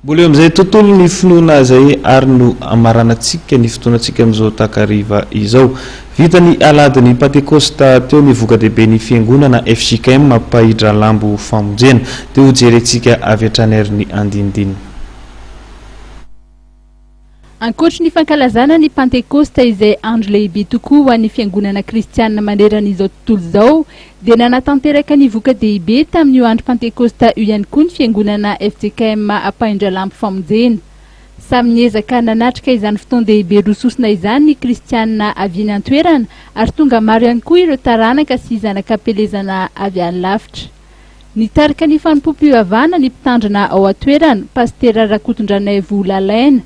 Mbola eo amin'izay tontolo ny finoana izay ary no hamaranantsika ny fotoanantsika amin'izao takariva izao. Vita ny Aladin'ny Pantekosta teo ny voka-dehiben'ny Fiangonana fjkm Mpahidralambo Famonjena. Dia hojerentsika avy hatrany ary ny andinindininy. Ankoatry ny fankalazana ny Pantekosta izay andro lehibe tokoa ho an'ny fiangonana kristiana maneran'izao tontolo izao, dia nanatanteraka ny voka-dehibe tamin'io andro Pantekosta io ihany koa ny fiangonana fjkm Ampahindralahy Ampifamonjena. Samy niezaka nanatrika izany fotoan-dehibe roa sosona izany ny kristiana avy eny an-toerana ary tonga maro ihany koa ireo taranaka sy zanak'ampielezana avy any lavitra. Nitarika ny fanompoam-pivavahana ny mpitandrina ao an-toerana, Pasitera Rakotondranaivo Lalaina.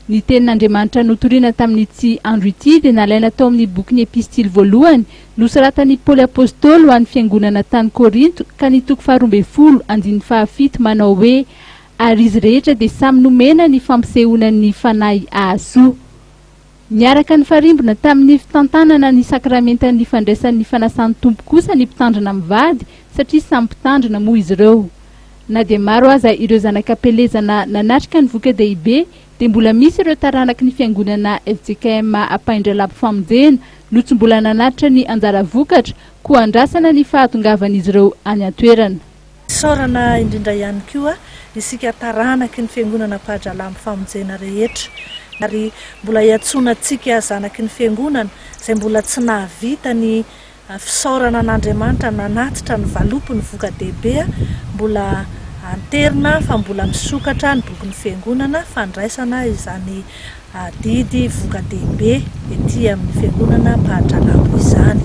Ny Tenin'Andriamanitra notorina tamin'ity andro ity dia nalaina tao amin'ny bokin'ny Epistily voalohany nosoratan'i Paoly Apôstôly ho an'ny fiangonana tany Kôrinto ka ny toko faharoa ambin'ny folo andininy fahafito manao hoe Ary izy rehetra dia samy nomena ny fampisehoana ny Fanahy hahasoa Niaraka nifarimbona tamin'ny fitantanana ny sakramentan'ny fandraisan'ny fanasan'ny Tompo kosa ny mpitandrina mivady satria samy mpitandrina moa izy ireo. Na dia maro aza ireo zanak'am-pelezana nanatrika ny voka-dehibe dia mbola misy ireo taranaky ny fiangonana fjkm Apaindralabo Famonjena no tsy mbola nanatitra ny anjara vokatra koa andrasana ny fahatongavan'izy ireo any an-toerana. Isaorana indrindra ihany koa isika taranaky ny Fiangonana Ampahadralahy amin'ny famonjena rehetra, ary mbola iantsoana antsika zanaky ny Fiangonana izay mbola tsy nahavita ny fisaorana an'Andriamanitra nanatitra ny valopiny voka-dehibe, mbola anterina fa mbola misokatra ny bokin'ny Fiangonana fandraisana izany Adidy voka-dehibe ety amin'ny fiangonana ampahan-trangano izany.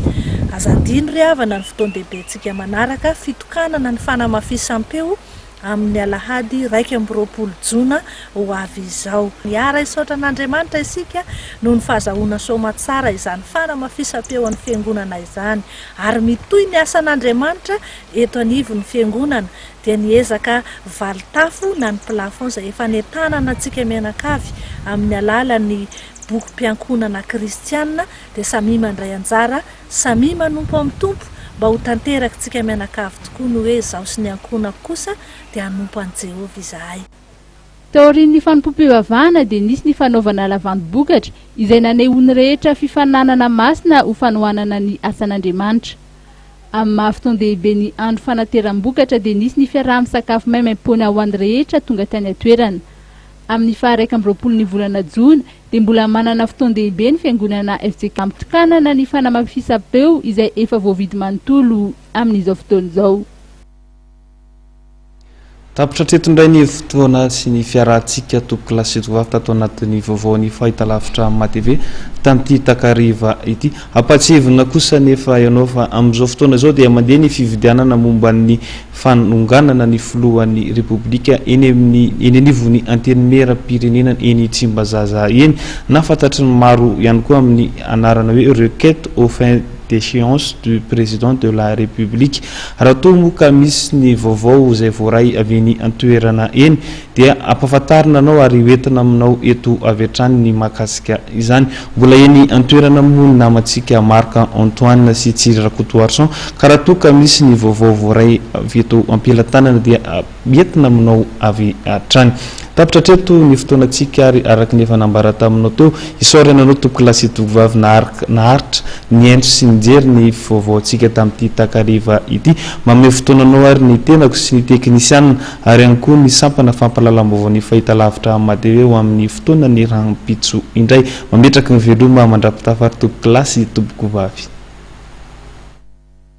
Aza adino ry havana ny fotoan-dehibentsika manaraka, fitokanana ny fanamafisam-peo amin'ny alahady iraika amby roapolo jona ho avy izao. Miara-hisaotra an'Andriamanitra isika noho ny fahazahoana soamantsara izany fanamafisam-peo an'ny fiangonana izany, ary mitohy ny asan'Andriamanitra eto anivon'ny fiangonana. dia ny ezaka valintafo na ny plafond izay efa nentanana antsika mianakavy amin'ny alalan'ny bokim-piankohonana kristiana dia samia mandray anjara, samia manompo amin'ny Tompo mba ho tanterakintsika mianakavy tokoa ny hoe izaho sy ny ankohonako kosa dia hanompo an'i Jehovah izahay. Taorian'ny fanompoam-pivavahana dia nisy ny fanaovana lavandim-bokatra izay nanehoan'ny rehetra fifaninanana masina ho fanohanana ny asan'Andriamanitra. Amin'ny maha fotoan-dehibe ny andro fanateram-bokatra dia nisy ny fiaraha-misakafo maimaim-poana ho an'ny rehetra tonga tany an-toerana. Amin'ny faha iraika amby roapolo ny volana jona dia mbola manana fotoan-dehibe ny Fiangonana fjk. Mitokanana ny fanamafisam-peo izay efa voavidy manontolo amin'izao fotoana izao. Tapitra hatreto indray ny fotoana sy ny fiarahantsika tompoko kila sy tompoko vavy tato anatin'ny vaovaon'ny fahitalavitra amin'ny Maha TV tamin'ity takariva ity. Hampahatsiahivina kosa anefa ianao fa amin'izao fotoana izao dia mandeha ny fividianana momba ny fanonganana ny filohan'ny Repoblika eny amin'ny eny anivon'ny Antenimieram-pirenena eny Tsimbazaza eny na fantatry ny maro ihany koa amin'ny anarana hoe Requête aux fins déchéance du Président de la République. Raha toa moa ka misy ny vaovao izay voaray avy eny an-toerana eny dia ampahafantarina anao ary hoentina aminao eto avy hatrany ny mahakasika izany. Mbola eny an-toerana moa ny namantsika Marc Antoine sy Tsiry Rakotoarison ka raha toa ka misy ny vaovao voaray avy eto am-pelantanana dia Mietina aminao avy hatrany. Tapitra hatreto ny fotoanantsika ary araka ny efa nambara taminao teo, isaorana anao tompoko lahy sy tokovavy naharitra nihaino sy nijery ny vaovaontsika tamin'ity takariva ity. Manome fotoananao ary ny tenako sy ny teknisianina ary ihany koa ny sampana fampahalalam-baovaon'ny fahitalavitra Amadtv ho amin'ny fotoanan'ny rahampitso indray. Mametraka ny veloma mandra-pitafary tompoko lahy sy tompoko vavy.